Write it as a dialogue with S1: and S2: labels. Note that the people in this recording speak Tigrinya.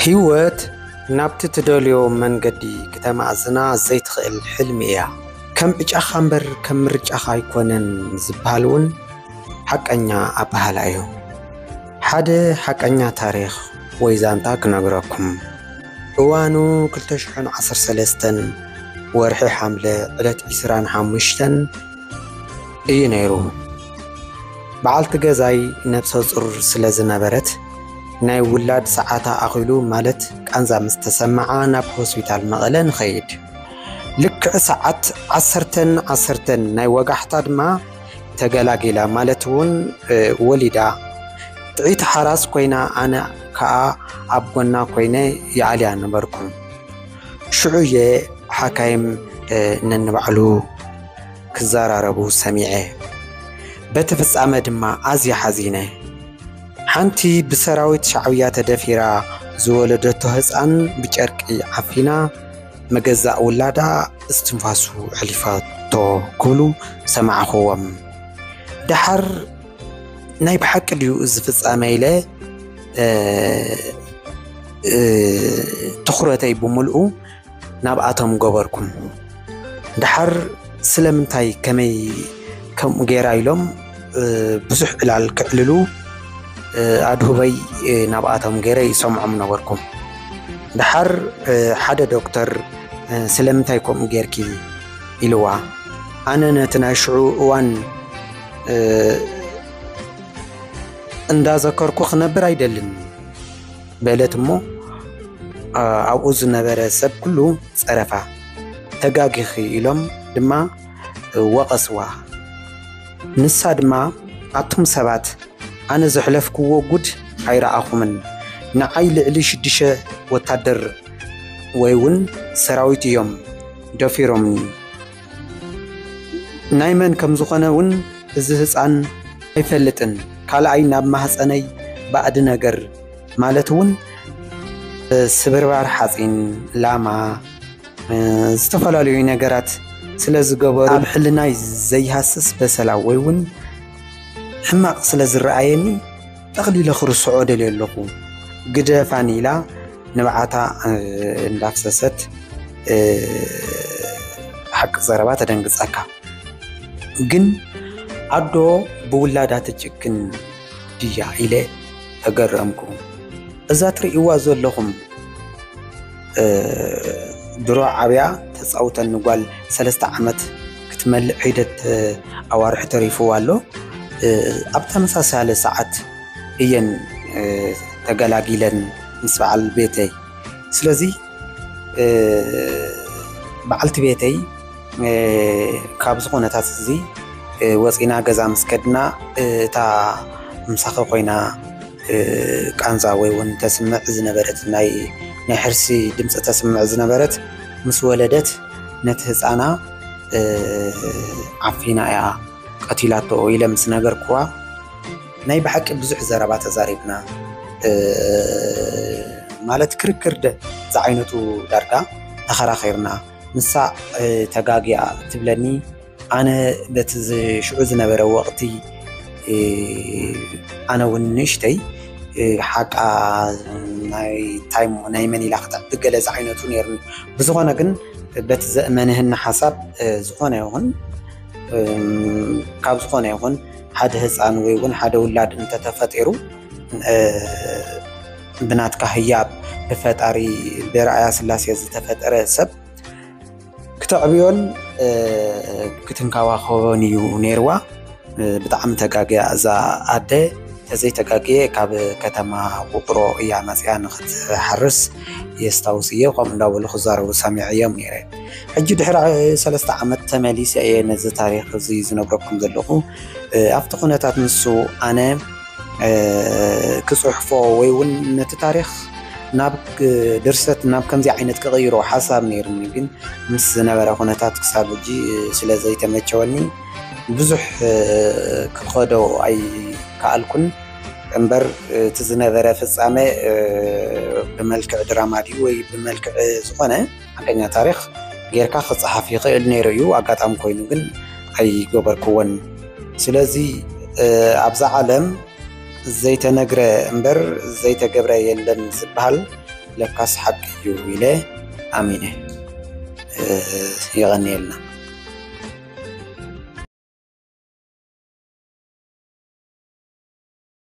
S1: ህይወት ናብቲ ትደልዮ መንገዲ ክተማእዝና ዘይትኽእል ሕልሚ እያ ከም ዕጫኻ እምበር ከም ምርጫኻ ኣይኮነን ዝበሃል እውን ሓቀኛ ኣበሃላ እዩ ሓደ ሓቀኛ ታሪኽ ወይ ዛንታ ክነግረኩም እዋኑ ክልተ ሽሕን ዓሰርተ ሰለስተን ወርሒ ሓምለ ዕለት ዕስራን ሓሙሽተን እዩ ነይሩ። በዓልቲ ገዛይ ነብሰ ፁር ስለ ዝነበረት ናይ ውላድ ሰዓታ ኣኺሉ ማለት ቃንዛ ምስ ተሰምዓ ናብ ሆስፒታል መቐለ ንኸይድ ልክዕ ሰዓት ዓሰርተን ዓሰርተን ናይ ወጋሕታ ድማ ተገላጊላ ማለት እውን ወሊዳ ጥዒቲ ሓራስ ኮይና ኣነ ከኣ ኣብ ጎና ኮይነ ይኣልያ ነበርኩ። ሽዑ እየ ሓካይም ነንባዕሉ ክዘራረቡ ሰሚዐ። በቲ ፍጻመ ድማ ኣዝየ ሓዚነ። ሓንቲ ብሰራዊት ሻዕብያ ተደፊራ ዝወለደቶ ህፃን ብጨርቂ ዓፊና መገዛእ ውላዳ እስትንፋሱ ሕሊፋቶ ክብሉ ሰማዕኹዎም። ደሓር ናይ ብሓቂ ድዩ እዚ ፍጻመ ኢለ ትኹረተይ ብምልኡ ናብኣቶም ገበርኩም ድሓር ስለምንታይ ከመይ ከምኡ ገይራ ኢሎም ብዙሕ ዕላል ክዕልሉ ኣድሁበይ ናብኣቶም ገይረ ይሰምዖም ነበርኩም ድሓር ሓደ ዶክተር ስለምንታይ ከምኡ ጌርኪ ኢልዋ ኣነ ነቲ ናይ ሽዑ እዋን እንዳዘከርኩ ክነብር ኣይደልን በለት እሞ ኣብኡ ዝነበረ ሰብ ኩሉ ፀረፋ ተጋጊኺ ኢሎም ድማ ወቐስዋ ንሳ ድማ ኣቱም ሰባት ኣነ ዘሕለፍክዎ ጉድ ኣይረኣኹምን ንዓይ ልዕሊ ሽዱሸ ወታደር ወይ እውን ሰራዊት እዮም ደፊሮምኒ ናይ መን ከም ዝኾነ ውን እዚ ህጻን ኣይፈልጥን ካልኣይ ናብ ማህጸነይ ባእድ ነገር ማለት ውን ስብርባር ሓጺን ላማ ዝተፈላለዩ ነገራት ስለ ዝገበሩ ኣብ ሕልናይ ዘይሃስስ በሰላ ወይ ውን ሕማቕ ስለ ዝረኣየኒ ጠቕሊለ ክርስዖ ደልየ ኣለኹ ግደፋኒ ኢላ ንብዓታ እንዳፍሰሰት ሓቂ ዘረባ ተደንግጸካ ግን ኣዶ ብውላዳ ትጭክን ድያ ኢለ ተገረምኩ እዛ ትርእይዋ ዘለኹም ድሮ ዓብያ ተፃውተኒ ጓል ሰለስተ ዓመት ክትመልእ ሒደት ኣዋርሒ ተሪፍዋ ኣሎ። ኣብ ተመሳሳሊ ሰዓት እየን ተገላጊለን ምስ በዓል ቤተይ ስለዚ በዓልቲ ቤተይ ካብዚ ኩነታት እዚ ወፂና ገዛ ምስ ከድና እታ ምሳኺ ኮይና ቃንዛ ወይ ውን ተስምዕ ዝነበረት ናይ ናይ ሕርሲ ድምፂ ተስምዕ ዝነበረት ምስ ወለደት ነቲ ህፃና ዓፊና እያ ቀቲላቶ ኢለ ምስ ነገርኩዋ ናይ ብሓቂ ብዙሕ ዘረባ ተዛሪብና ማለት ክርክር ዝዓይነቱ ዳርጋ ተኸራኺርና ንሳ ተጋጊያ ትብለኒ ኣነ በቲ ሽዑ ዝነበረ ወቕቲ ኣነ እውን ንእሽተይ ሓቃ ናይ ታይሞ ናይ መን ኢላ ክተዕቢ ገለ ዝዓይነቱ ነይሩኒ ብዝኾነ ግን በቲ ዘእመንህና ሓሳብ ዝኾነ ይኹን ካብ ዝኾነ ይኹን ሓደ ህፃን ወይ እውን ሓደ ውላድ እንተተፈጢሩ ብናትካ ህያብ ብፈጣሪ ብርኣያ ስላሴ ዝተፈጠረ ሰብ ክተዕብዮን ክትንከባኸቦን እዩ ነይርዋ ብጣዕሚ ተጋግያ እዛ ኣደ ተዘይ ተጋግየ ካብ ከተማ ውቅሮ እያ መፅያ ንክትሓርስ የስታውስ እየ ከምኡ እንዳበሉ ክዛረቡ ሰሚዐ እዮም ነይረ ሕጂ ድሕሪ ሰለስተ ዓመት ተመሊሰ እየ ነዚ ታሪክ እዚ ዝነግረኩም ዘለኹ ኣብቲ ኩነታት ንሱ ኣነ ክጽሕፎ ወይ እውን ነቲ ታሪኽ ናብ ድርሰት ናብ ከምዚ ዓይነት ክቕይሮ ሓሳብ ነይሩኒ ግን ምስ ዝነበረ ኩነታት ክሳብ ሕጂ ስለ ዘይተመቸወኒ ብዙሕ ክኸዶ ኣይከኣልኩን እምበር እቲ ዝነበረ ፍጻመ ብመልክዕ ድራማ ድዩ ወይ ብመልክዕ ዝኾነ ሓቀኛ ታሪኽ ጌርካ ክጸሓፍ ይኽእል ነይሩ እዩ ኣጋጣሚ ኮይኑ ግን ኣይገበርክዎን ስለዚ ኣብዛ ዓለም ዘይተነግረ እምበር ዘይተገብረ የለን ዝበሃል ለካስ ሓቂ እዩ ኢለ ኣሚነ የቐንየልና